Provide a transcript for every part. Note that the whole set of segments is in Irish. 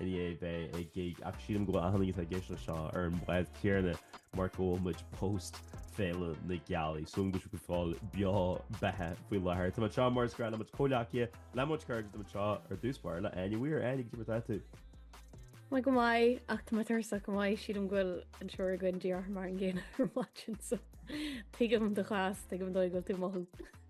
I ndiaidh bheith ag gig ach sílim go bhfuil achan duine atá ag éisteacht leis seo ar an bhád chéarna mar go bhfuil muid post Féile na Gealaí. So go fóill beo beathach faoi láthair. Tá mé anseo mar is gnách le mo chomhghleacaithe, le mo chuid cairde, tá mé anseo ar dtús báire le Áine Weir. Áine, cad é mar atá tú? Maith go maith ach tá mé tuirseach go maith sílim go bhfuil an triúr againn díreach mar an gcéanna ar maidin so tuigim do chás, tuigim dóigh go bhfuil tú mothú.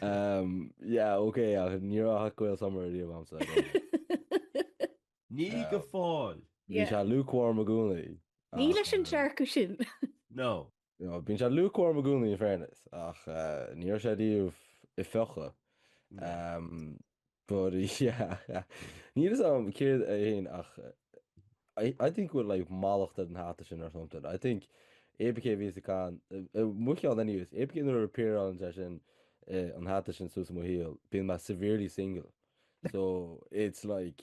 Um, yeah, ok, ach ní raibh hot Gael summer riamh agamsa. I don't know. Ní Ah. go fóill. Bhí Yeah. sé lukewarm i gcónaí. Ní ach, leis an eh, dearcadh sin. No. No, bíonn sé lukewarm i gcónaí in fairness, ach eh, ní raibh sé riamh ag fiuchadh. No. Um, But yeah. Níl fhios agam céard é fhéin ach I, I think bhfuil like mallacht ar an hata sin or something. I think APK a bhí sa can, mo cheann anyways, APK nuair a appearann sé sin eh, an hata sin suas i mo shaol, bíonn mé severely single. So it's like,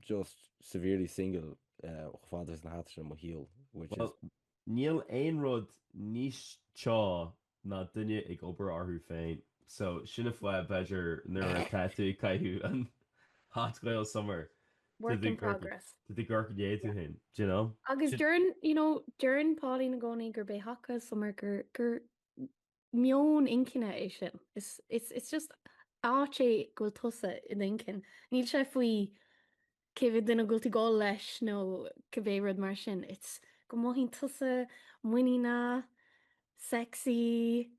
just severely single chomh fada is an hata sin i mo shaol which is. Níl aon rud níos teo ná duine ag obair orthu féin so sin an fáth b'fhéidir nuair atá tú ag caitheamh an hot Gael summer Work in progress. do do gcorp ghné tú féin do you know? Agus deireann you know deireann Pauline i gcónaí gurb é hot Gael summer gur gur meon inchinne é sin. It's just áit é go bhfuil tusa i d'inchinn. Níl sé faoi cé mhéad duine a bhfuil tú ag gabháil leis nó cibé rud mar sin. It's go mothaíonn tusa muiníneach, sexy,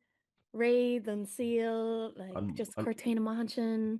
réidh don saol, like just cuir tú fhéin amach ansin.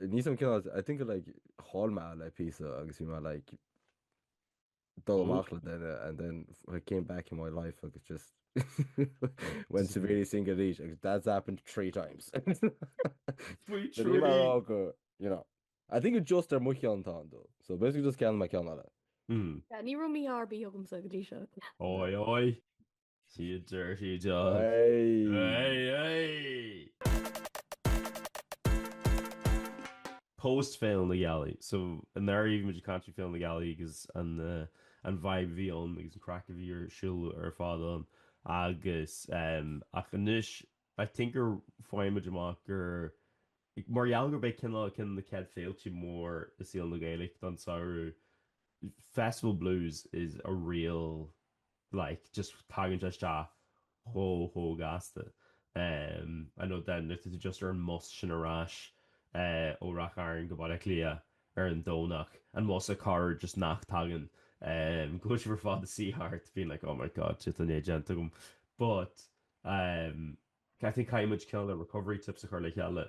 níl fhios agam cineál I think I like chaill mé le píosa agus bhí mé like dul amach le duine and then it came back in my life agus just went severely single arís agus that's happened three times. Faoi So níl mé ag thrí. rá go, you know. I think it's just ar mo cheann tá an dul. So basically just ceannóidh mé ceann eile. Mm. Yeah, Ní raibh mí-ádh ar bith agamsa go dtí seo. Oi, oi. See you dirty dog. Hey! Post Féile na Gealaí. So i ndáiríre bhí muid ag caint faoi Féile na Gealaí agus an vibe a bhí ann agus an craic a bhí ar siúl ar fad ann agus ach anois I think gur faigheann muid amach gur mar gheall gurb é cineál ceann de na chéad féilte mór i saol na Gaeilge don samhradh Festival Blues is a real like, just tagann sé isteach chomh, chomh gasta. Um, I know then, like, tá tú just ar an mbus sin ar ais, eh, ó Ráth Chairn go Baile Átha Cliath ar an Domhnach. An bus a' carr just nach dtagann. Um, go bhfuil sibh ar fad a' suí thart being like, oh my God, shit, tá an é déanta agam. But, um, I think caithfidh muid cineál recovery tips a chur le chéile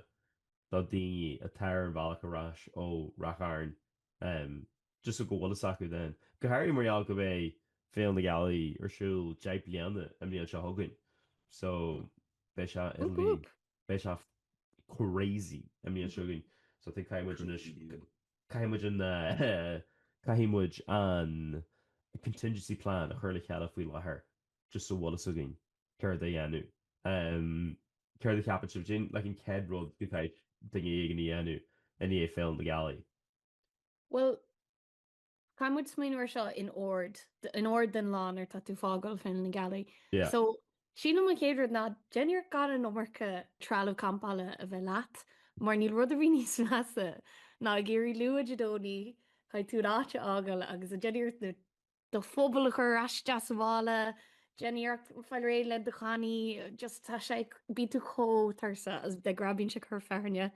do daoine atá ar an bhealach ar ais ó Ráth Chairn, um, just go bhfuil a fhios acu then. Go háirithe mar gheall go mbeidh Féile na Gealaí ar siúl deich bliana i mbliain seo chugainn. So beidh sé in Whoop whoop. beidh sé crazy i mbliain seo chugainn. So I think caithfidh muid anois caithfidh muid an caithfidh muid an contingency plan a chur le chéile faoi láthair just a bhfuil a fhios againn céard é a dhéanamh. Em céard a cheapann sibh? Like an chéad rud go gcaithfidh duine éigin a dhéanamh i ndiaidh Féile na Gealaí? Bhuel, caithfidh muid smaoineamh air seo in ord, in ord den lá nuair atá tú fágáil Féile na Gealaí. Yeah. So, sílim an chéad rud ná, déan iarracht gan an iomarca trealamh campála a bheith leat, mar níl rud ar bith níos measa ná ag éirí luath Dé Domhnaigh, caithfidh tú an áit a fhágáil agus ag déanamh iarracht na do phuball a chur aisteach sa mhála, déanamh iarracht fáil réidh le do chanaí, just tá sé ag, bíonn tú chomh tuirseach is de ghnáth bíonn sé ag cur fearthainne,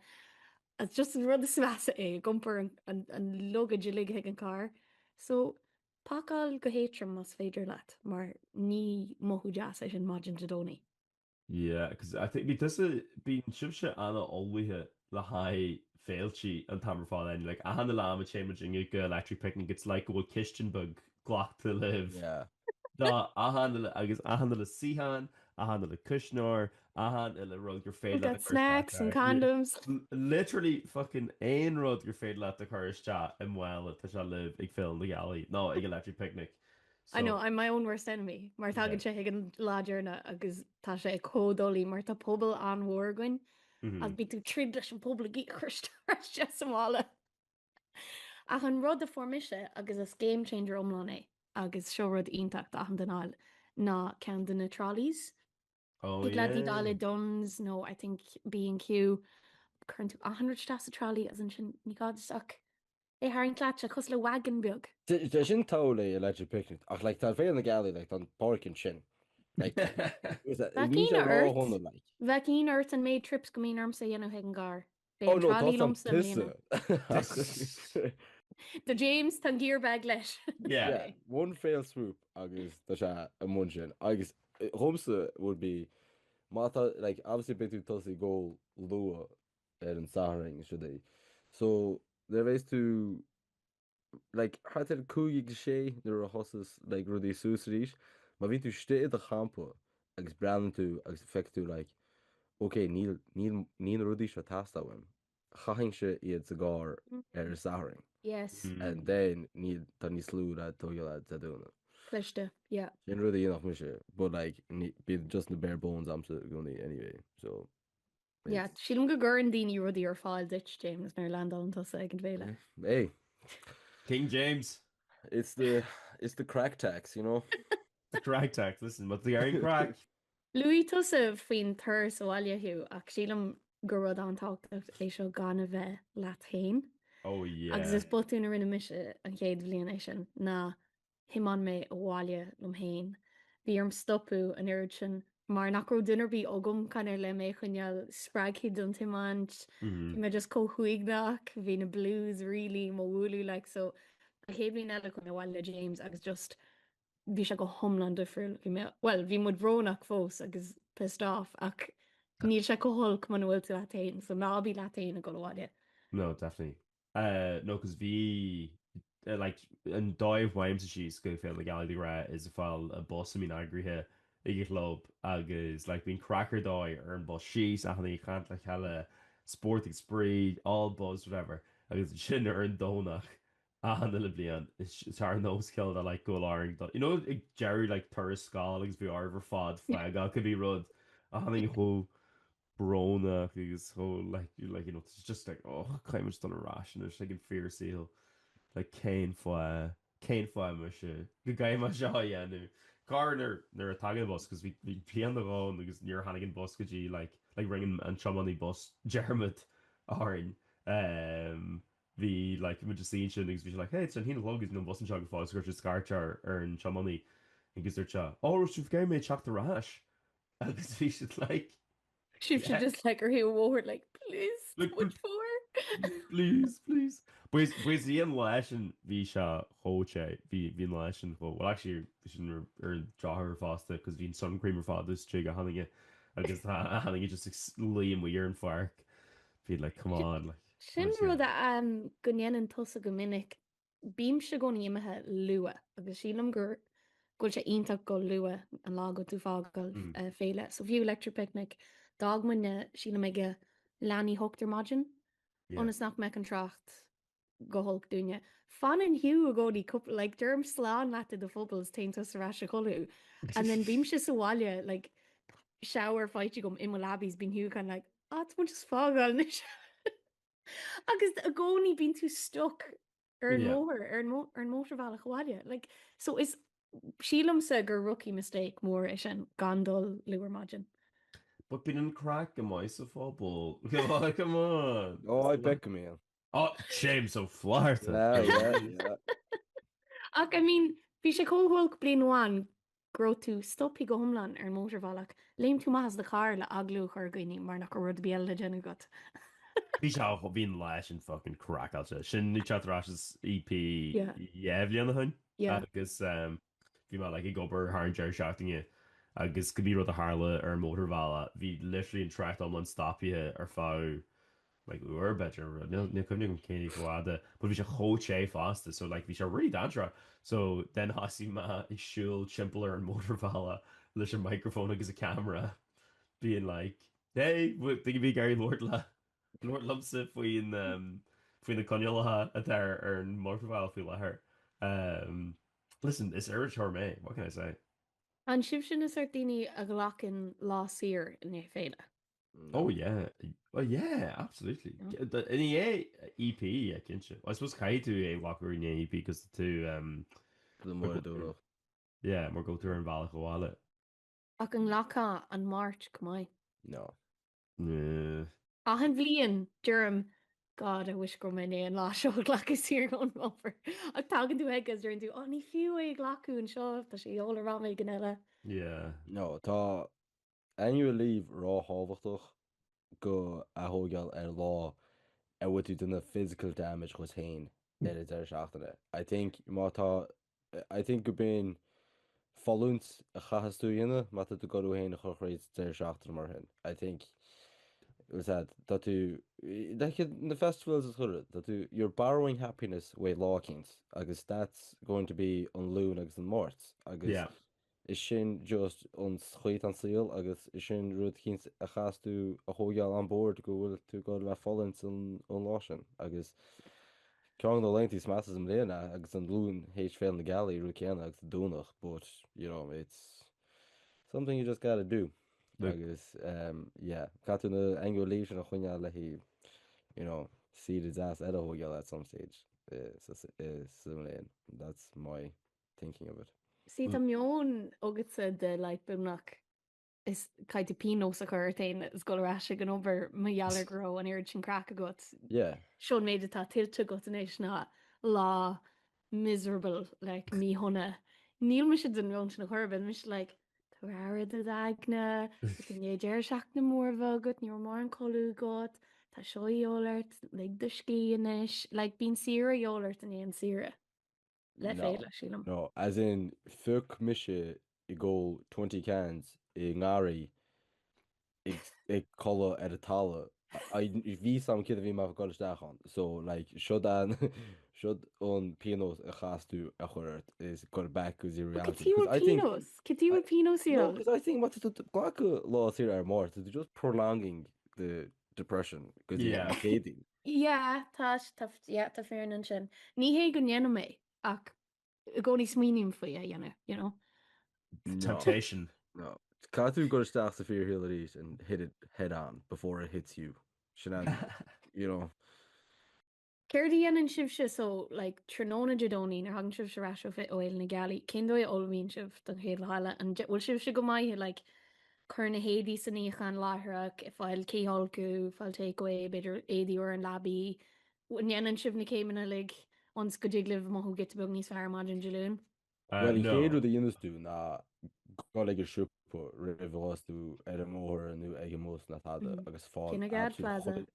is just an rud is measa é ag iompar an luggage uilig chuig an carr, so pacáil go héadtrom más féidir leat mar ní mothú deas é sin maidin Dé Domhnaigh. Yeah, 'cause I think bhí tusa, bíonn sibhse an-ullmhaithe le haghaidh féiltí an t-am ar fad anyway, like achan uile am a théann muidinne go Electric Picnic it's like go bhfuil cistin beag glachta libh Yeah. do achan uile, agus achan uile suíochán, achan uile cuisneoir, achan uile rud gur féidir We've leat got a chur isteach snacks and air. Yeah. condoms. L- Literally fucking aon rud gur féidir leat a chur isteach i mála tá sé libh ag Féile na Gealaí, nó ag Electric Picnic. I know, I'm my own worst enemy mar tagann sé chuig an lá deireanach agus tá sé chomh doiligh mar tá puball an-mhór againn agus bíonn tú ag troid leis an puball ag iarraidh é a chur isteach ar ais sa mhála. Ach an rud a fuair mise agus is game changer iomlán é agus seo rud iontach d'achan duine a fháil ná ceann de na trolleys. Oh Thig leat yeah. iad a fháil i Dunnes nó I think B&Q, cuireann tú achan rud isteach sa trolley agus ansin ní gá duit ach é a tharraingt leat, tá sé cosúil le wagon beag. Sé sin totally Electric Picnic ach like tá an Féile na Gealaí like tá an parking ansin like Bheadh ionadh ort, like. bheadh ionadh ort an méid trips go mbíonn ormsa a dhéanamh chuig an gcarr. Beidh an trolley liomsa i mbliana. James tá an gear bag leis. Yeah. yeah. One fell swoop agus tá sé i mbun sin agus dhomsa would be má tá like obviously beidh tú ag tosaí go luath ar an Satharn is rudaí. So le bhéis tú like thart ar 5-6 nuair a thosaíos like rudaí suas arís má bhíonn tú istigh i do champa agus breathnaíonn tú agus feicfidh tú like ok níl níl níl na rudaí seo ag teastáil uaim chaithfinnse iad sa gcarr ar an Satharn yes and then níl tá níos lú le tógáil Dé Domhnaigh. cliste yeah. sin rud a dhéanfadh mise but like bíonn just na bare bones a'msa i gcónaí anyway so. Yeah, sílim go gcuireann daoine rudaí ar fáil duit, James, nuair a landálann tusa ag an bhféile. Hey. King James. It's the, it's the crack tax, you know. The crack tax, listen, má dhearn crack. Luaigh tusa faoin turas abhaile Hugh ach sílim gur rud an-tábhachtach é seo gan a bheith leat féin. Oh yeah. Agus is botún a rinne mise an chéad bhliain é sin ná thiomáin mé abhaile liom fhéin. Bhí orm stopadh an oiread sin mar nach raibh duine ar bith agam kind of le mé a choinneáil spreagtha don tiomáint. Bhí mé just chomh huaigneach, bhí na blues really do mo bhualadh like so an chéad bhliain eile chuaigh mé abhaile le James agus just bhí sé go hiomlán difriúil. Bhí mé, bhuel, bhí muid brónach fós agus pissed off ach níl sé chomh holc muna bhfuil tú leat fhéin so ná bí leat fhéin ag dul abhaile. No, definitely. no cos bhí like an dóigh a bhfaighimse síos go Féile na Gealaí de ghnáth is ag fáil an bus a mbíonn eagraithe ag an chlub agus like bíonn craic ar dóigh ar an bus síos achan duine ag caint le chéile spórt agus spraoi all buzz whatever agus ansin ar an Domhnach achan uile bliain is tá ar nós céile dá like go bhfuil orainn dul you know ag deireadh like turas scoile agus bhí oraibh ar fad fágáil cos bhí rud achan duine chomh brónach agus chomh like you like you know it's just like oh caithimid dul ar ais anois like an fíorshaol like cén fáth cén fáth muise go gcaithfidh mé seo a dhéanamh. Go háirid nuair nach dtagann an bus cos bhí bhí bliain nó dhó agus níor tháinig an bus go dtí like like rinne an an tiománaí bus dearmad orainn ehm bhí like muid ansin agus bhí sé like hey it's a haon a chlog is níl an bus anseo go fóill agus chuir sé scairt ar ar an tiománaí agus dúirt sé oh so an gcaithfidh mé teacht ar ais Agus bhí siad like. Shuigh siad just like ar thaobh an bhóthair like please, what for? Please, please. Because bhí an lá sin bhí sé chomh te, bhí an lá sin chomh, well actually bhí sin ar an drochuair fosta cos bhí an sun cream ar fad istigh ag achan duine agus tá achan duine just ag luí amuigh ar an pháirc. Bhí like come on like. Sin rud go ndéanann tusa go minic. Bímse i gcónaí imithe luath agus sílim go bhfuil sé iontach go luath an lá go bhfuil tú ag fágáil féile. So fiú Electric Picnic d'fhág muidne sílim ag leath i ndiaidh a hocht ar maidin ionas nach mbeadh an trácht go holc dúinne. Fanann Hugh i gcónaí cúpla like deirim slán leat i do phuball is téann tusa ar ais a chodladh and then bímse sa bhaile like shower faighte agam i mo leabaidh is bíonn Hugh kind of like ah tá muid just ag fágáil anois. Agus i gcónaí bíonn tú stuck ar an Yeah. mbóthar, ar an mó- ar an mótarbhealach abhaile. Like, so is sílimsa gur rookie mistake mór é sin gan dul luath ar maidin. But bíonn an craic go maith sa phuball. Come on, come on. Ó, I bet go mbíonn. Á, James Ó Flaithearta. Yeah, yeah, yeah. Ach I mean, bhí sé chomh holc bliain amháin go raibh tú stoptha go hiomlán ar an mótarbhealach, léim tú amach as do charr le agallamh a chur ar dhaoine mar nach raibh rud ar bith eile le déanamh agat. Bhí sé á, bhí an lá sin fucking craiceáilte. Sin i ndiaidh teacht ar ais as EP dhá bhliain ó shin agus bhí mé like ag obair thar an deireadh seachtaine agus cibé rud a tharla ar an mótarbhealach, bhí literally an trácht iomlán stoptha ar feadh like uair b'fhéidir níl níl cuimhne agam cé chomh fada but bhí sé chomh te fosta so like bhí sé really dainséarach so then thosaigh mé ag siúl timpeall ar an mótarbhealach leis an microphone agus an camera being like hey w- tuigim bhfuil tú ag iarraidh labhairt le labhairt liomsa faoin umm faoi na coinníollacha atá ar ar an mótarbhealach faoi láthair umm listen is iriseoir mé what can I say. An sibhse an sórt daoine a ghlacann lá saor i ndiaidh féile? No. Oh yeah, oh yeah, absolutely. Yeah. G- d- I ndiaidh EP cinnte. I suppose caithfidh tú é a ghlacadh i ndiaidh EP 'cause tú um, Go mór Go- dúró. yeah, mar go bhfuil tú ar an bhealach abhaile. Ach an nglacfá an Mháirt chomh maith. No. Yeah. Achan bhliain deirim God, I wish go raibh mé i ndiaidh an lá seo a ghlacadh saor ón obair. Ach tagann tú chuige agus deireann tú, ó ní fiú é a ghlacadh anseo, tá sé a dhíobháil orm am éigin eile. Yeah. No, tá Annual leave róthábhachtach dhá thógáil ar lá a bhfuil tú ag déanamh physical damage dhuit féin ar an deireadh seachtaine. I think má tá, I think go b'in fulaingt a chaithfeas tú a dhéanamh má tá tú ag goil thú féin a chur thríd deireadh seachtaine mar sin. I think what's that, tá tú, like na festivals is ghuire, tá tú, you're borrowing happiness uaidh lá éicint agus that's going to be an Luan agus an Máirt agus Yeah. Is sin just an chaoi atá an saol agus sin rud eicínt a chaithfeas tú a thóigeáil on board go bhfuil tú ag goil ag fulaingt an an lá sin agus ceann de na laethanta is measa sa mbliain é agus an Luan théis Féile na Gealaí rud céanna agus Domhnach but you know it's something you just gotta do Yep. agus um, yeah, caithfidh tú an annual leave sin a choinneáil le haghaidh you know, saoire deas a thóigeáil at some stage eh, sa- sa- eh, sa mbliain that's my thinking of it. Sea, tá meon agatsa de like beagnach is caithfidh tú pionós a chur ort féin is dul ar ais ag an obair mar gheall ar go raibh an oiread sin craic agat. Yeah. Seo an méid atá tuillte agat anois ná lá miserable like míshona. Níl mise den mheon sin ar chor ar bith, mise like tabhair aire do d'aigne, is i ndiaidh deireadh seachtaine mór a bheith agat, ní raibh mórán codladh agat, tá seo a dhíobháil ort, lig do scíth anois, like bíonn saoire a dhíobháil ort i ndiaidh saoire. Le féile, sílim. No, as in fuck mise ag ól twenty cans i ngarraí ag codladh ar an talamh. Ní raibh a fhios a'm céard a bhí mé ag dul isteach ann. So, like, seod an seod an pionós a chaithfeas tú a chur ort is go back go reality. Cad diabhal pionós? Cad diabhal pionós í ann? No, because I think má tá tú ag glacadh lá saoire ar an Máirt, you're just prolonging the depression go dtí an Chéadaoin. Yeah, tá, tá, yeah, tá fírinne ansin. Ní hé go ndéanaim é, ach i gcónaí smaoiním faoi a dhéanamh, you know? No. Temptation. No. Caithfidh tú dul isteach sa fear head-first and hit it head on before it hits you. Sin an, you know. Céard a dhéanann sibhse, so, like, tráthnóna Dé Domhnaigh nuair a thagann sibhse ar ais ó Fhéile na Gealaí, cén dóigh a n-ullmhaíonn sibh don chéad lá eile? An, bhfuil sibhse go maith, like, Cuir na héadaí sa níochán láithreach, ag fáil cithfholcadh, fáil take-away, b'fhéidir éadaí úra ar an leabaidh. An ndéanann sibh na céimeanna uilig ionns go dtig libh mothú giota beag níos fearr ar maidin Dé Luain? Bhuel, an chéad rud a dhéanas tú ná dul ag an siopa roimh a ghabhas tú ar an mbóthar nó ag an mbus nó tada agus fáil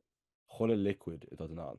chuile liquid atá a'd in ann.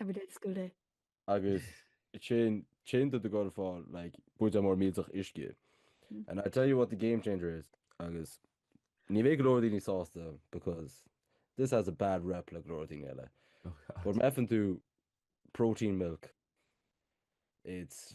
Everyday is school day. Agus téann tú ag goil ag fáil like buidéal mór millteach uisce. And I tell you what the game changer is agus ní bheidh go leor daoine sásta because this has a bad rep le go leor daoine eile. Oh But god. má fhaigheann tú protein milk it's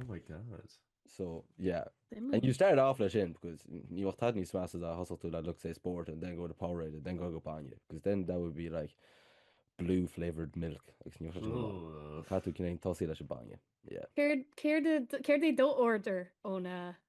Oh my God. So yeah. And you start off leis sin because ní bheadh tada níos measa dá dtosódh tú le Lucozade Sport and then go to Powerade and then go go bainne because then that would be like blue flavoured milk tá tú ag cinneadh tosaí leis an bainne. Yeah. Céard é do order óna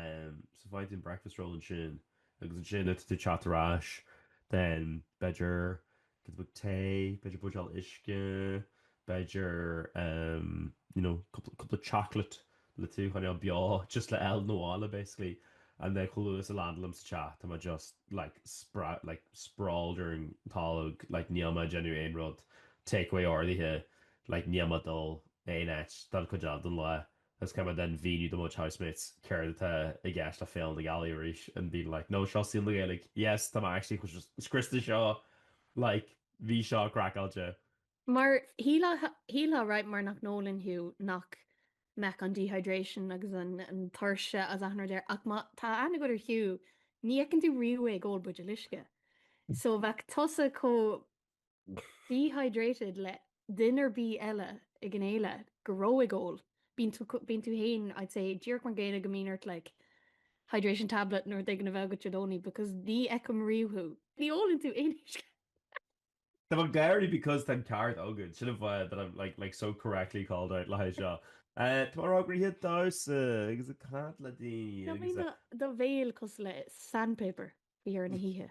Ehm so faigheann tú breakfast roll ansin agus ansin is tú ag teacht ar ais then b'fhéidir giota beag tae, b'fhéidir buidéal uisce, b'fhéidir ehm you know couple of chocolate le tú a choinneáil beo just le dul abhaile basically and then chomh luath is a landálaim sa teach tá mé just like spra like sprawled ar an tolg like níl mé ag déanamh aon rud takeaway ordaithe like níl mé ag dul aon áit don chuid eile den lá It's kind of then ag míniú do mo chuid housemates céard atá i gceist le Féile na Gealaí arís and being like no seo saol na Gaeilge yes tá mé actually chomh scriosta seo like bhí seo craiceáilte. Mar shílfeá right mar nach n-ólann Hugh nach mbeadh an dehydration agus an tuirse ag cur isteach air ach má tá aithne agat ar Hugh ní fheiceann tú riamh é ag ól buidéal uisce so bheadh tusa chomh dehydrated le duine ar bith eile ag an fhéile go raibh ag ól. Bíonn tú fhéin I'd say díreach mar an gcéanna go mbíonn ort like hydration tablet nó rud éigin a bheith agat Dé Domhnaigh because ní fheicim riamh thú. Ní ólann tú aon uisce. Tá mé ag gáirí because tá an ceart agat. Sin an fáth that I'm like like so correctly called out le haghaidh seo. Eh tá mé róghnóthach ag damhsa agus ag caint le daoine Ná agus bíonn do bhéal cosúil le sandpaper faoi dheireadh na hoíche.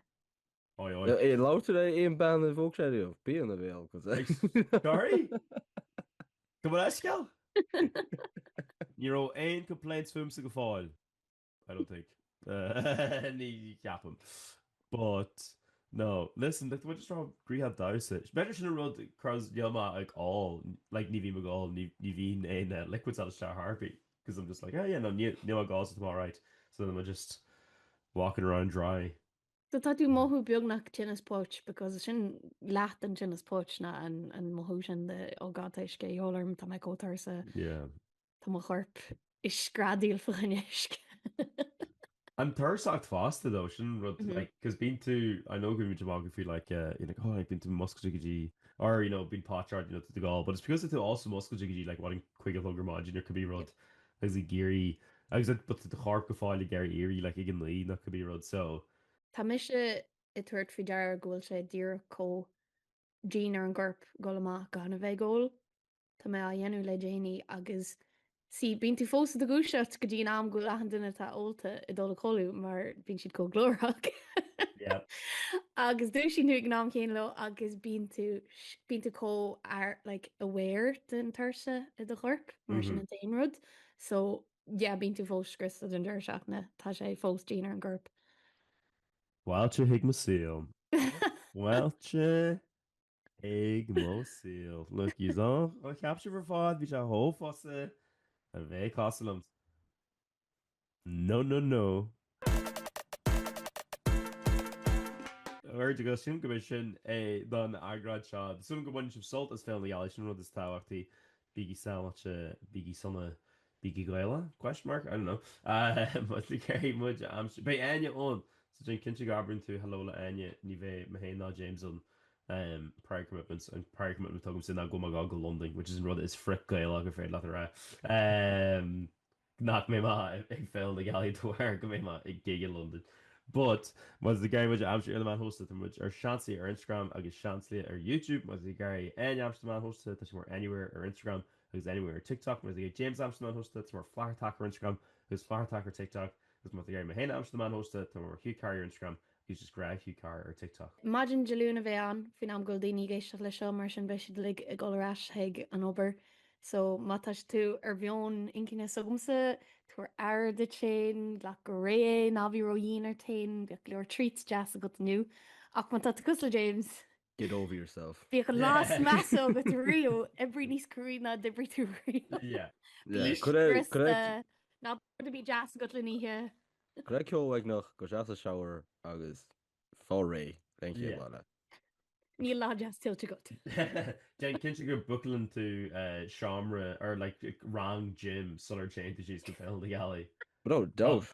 Aye aye. Aye labhraitear ar aon bean a phóg sé riamh. Bíonn a bhéal go dtí. Sorry? Gabh mo leithscéal? Ní raibh aon complaints fúmsa go fóill, I don't think. Ní cheapaim. But, no, listen, like, tá muid just róghnóthach ag damhsa. B'fhéidir sin an rud, cos níl mé ag ól, like, ní bhím ag ól, ní, ní bhíonn aon eh, liquids ag dul isteach ar chor ar bith, cos I'm just like, ah yeah, no, níl, níl mé ag ól so tá mé alright. So then I'm just walking around dry. So tá tú mothú beagnach tinneas póit because sin leath den tinneas póit ná an mothú sin de oh god tá uisce de dhíobháil orm tá mé chomh tuirseach Yeah. tá mo chorp ag screadaíl fá choinne uisce. An tuirseacht fosta though sin an rud Mhm. like cos bíonn tú I know go bhfuil muid amach go bhfuil like eh, you know, oh like bíonn tú muscailte go dtí or you know bíonn póit ort you know tú ag ól but it's because tá tú also muscailte go dtí like whadding cúig a chlog ar maidin or cibé rud agus ag éirí agus an but do chorp go fóill ag iarraidh éirí like ag a naoi nó cibé rud so. tá mise ag tabhairt faoi deara go bhfuil sé díreach chomh dian ar an gcorp dhul amach gan a bheith ag ól tá mé á dhéanamh le déanaí agus see bíonn tú fós i do dhúiseacht go dtí an am go bhfuil achan duine atá ólta ag dul a chodladh mar bíonn siad chomh glórach yeah agus dúisíonn tú ag an am chéanna leo agus bíonn tú bíonn tú chomh like aware den tuirse i do chorp mar sin an t-aon rud. So yeah bíonn tú fós scriosta den tuirse ach no tá sé fós dian ar an gcorp. Fáilte chuig mo saol. Fáilte chuig mo saol. Look yous a cheap sibh ar fad bhí sé chomh fusa a bheith cosúil liom. No no no. Ghort a Ghuth, Sílim gurb é sin é don eagrán seo. Súil agam go mbaineann sibh sult as Féile na Gealaí, sin an rud is tábhachtaí. Bígí sábháilte, bígí sona, bígí Gaelach? Question mark? I don't know. Má tá sibh ag iarraidh muid a aimsiú. Beidh Áine ann so déan cinnte go n-abrann tú hello le Áine, ní bheidh mé féin ná James ann ehm prior commitments, an prior commitment atá agamsa ná go mbeidh mé ag gabháil go Londain, which is an rud is frith-Ghaelach ar féidir leat a rá ehm. nach mbeidh mé ag Féile na Gealaí de bharr go mbeidh mé ag gig i Londain but má tá sibh ag iarraidh muid a aimsiú ar na meáin shóisialta tá muid ar Seansálaithe ar Instagram agus Seansálaithe ar Youtube má tá sibh ag iarraidh Áine a aimsiú ar na meáin shóisialta tá sí mar anywhere ar Instagram agus anywhere ar TikTok má tá sibh ag iarraidh James a aimsiú ar na meáin shóisialta tá mar Flathartach ar Instagram agus Flathartach ar TikTok agus má tá sibh ag iarraidh mé féin a aimsiú ar na meáin shóisialta tá mar Hugh Carr Here ar Instagram He just grabbed Hugh Carr ar TikTok. Maidin Dé Luain a bheidh ann faoin am go bhfuil daoine ag éisteacht leis seo, mar sin beidh siad uilig ag dul ar ais chuig an obair. So má tá tú ar mheon inchinne s'agamsa, tabhair aire duit féin, glac go réidh é, ná bí ró-dhian ort féin, bíodh go leor treats deas agat inniu. Ach má tá tú cosúil le James, Get over yourself. Bíodh an lá is measa agat riamh, oibrigh níos cruaidhe ná d'oibrigh tú riamh. Yeah. Bí scriosta, ná bíodh aon bhia deas agat le n-ithe. Cuir ceol uaigneach, go deas sa shower agus faigh réidh don chéad lá eile. Níl lá deas tuillte agat. Déan cinnte go mbookálann tú seomra, or like rang gym, sula dtéann tú síos go Féile na Gealaí. No doubt.